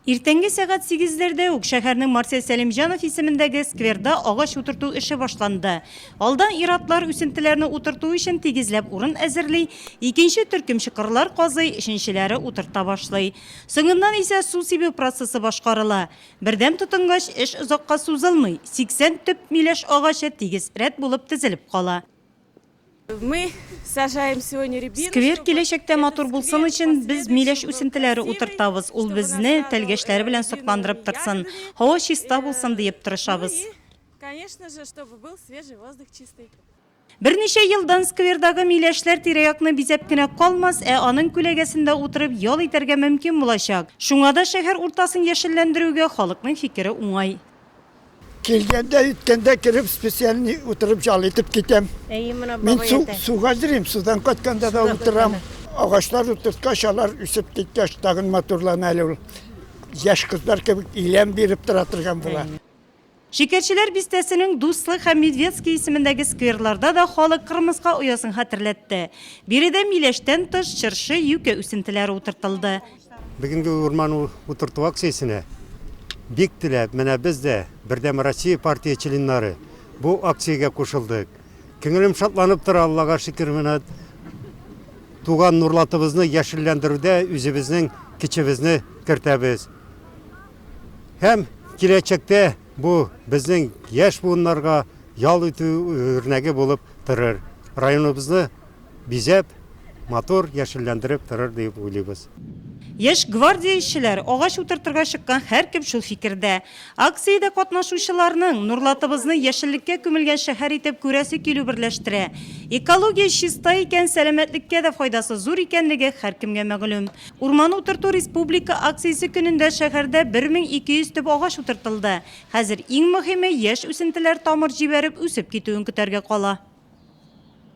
Иртәнге сәгать сигезләрдә үк шәһәрнең Марсель Сәлимҗанов исемендәге скверда агач утырту эше башланды. Алдан ир-атлар үсентеләрне утырту өчен тигезләп урын әзерли, икенче төркем чокырлар казый, өченчеләре утырта башлый. Соңыннан исә су сибү процессы башкарыла. Бердәм тотынгач, эш озакка сузылмый, 80 төп миләш агачы тигез рәт булып тезелеп кала. Сквер киләчәктә матур булсын өчен, без миләш үсентеләре утыртабыз, ул безне тәлгәшләре белән сокландырып торсын, һава чиста булсын диеп тырышабыз. Берничә елдан сквердагы миләшләр тирә-якны бизәп кенә калмас, ә аның күләгәсендә утырып ял итәргә мөмкин булачак. Шуңа да шәһәр уртасын яшелләндерүгә халыкның фикере уңай. Килгәндә, үткәндә кереп, специальный утырып жал итеп китәм. Әйе, мына Мин су, суга җөрим, судан кайтканда да утырам. Агачлар утырткач, алар үсеп киткәч, тагын матурлана әле ул. Яшь кызлар кебек иләм биреп тора торган була. Шикәрчеләр бистәсенең Дуслык һәм Медведский исемендәге скверларда да халык кырмыска оясын хәтерләтте. Биредә миләштән тыш, чыршы, юкә үсентеләре утыртылды. Бүгенге урман утырту акциясенә бик теләп, менә без дә, Бердәм Россия партия членнары, бу акциягә кушылдык. Күңелем шатланып тора, Аллага шөкер, менә туган Нурлатыбызны яшелләндерүдә үзебезнең көчебезне кертәбез. Һәм киләчәктә бу безнең яшь буыннарга ял итү үрнәге булып торыр. Районыбызны бизәп, матур, яшелләндереп торыр диеп уйлыйбыз. Яшь гвардия эшчеләр, агач утыртырга чыккан һәркем шул фикердә. Акциядә катнашучыларның, Нурлатыбызны яшеллеккә күмелгән шәһәр итеп күрәсе килү берләштерә. Экология чиста икән, сәламәтлеккә дә файдасы зур икәнлеге һәркемгә мәгълүм. Урман утырту республика акциясе көнендә шәһәрдә 1200 төп агач утыртылды. Хәзер иң мөһиме, яшь үсентеләр тамыр җибәреп, үсеп китүен көтәргә кала.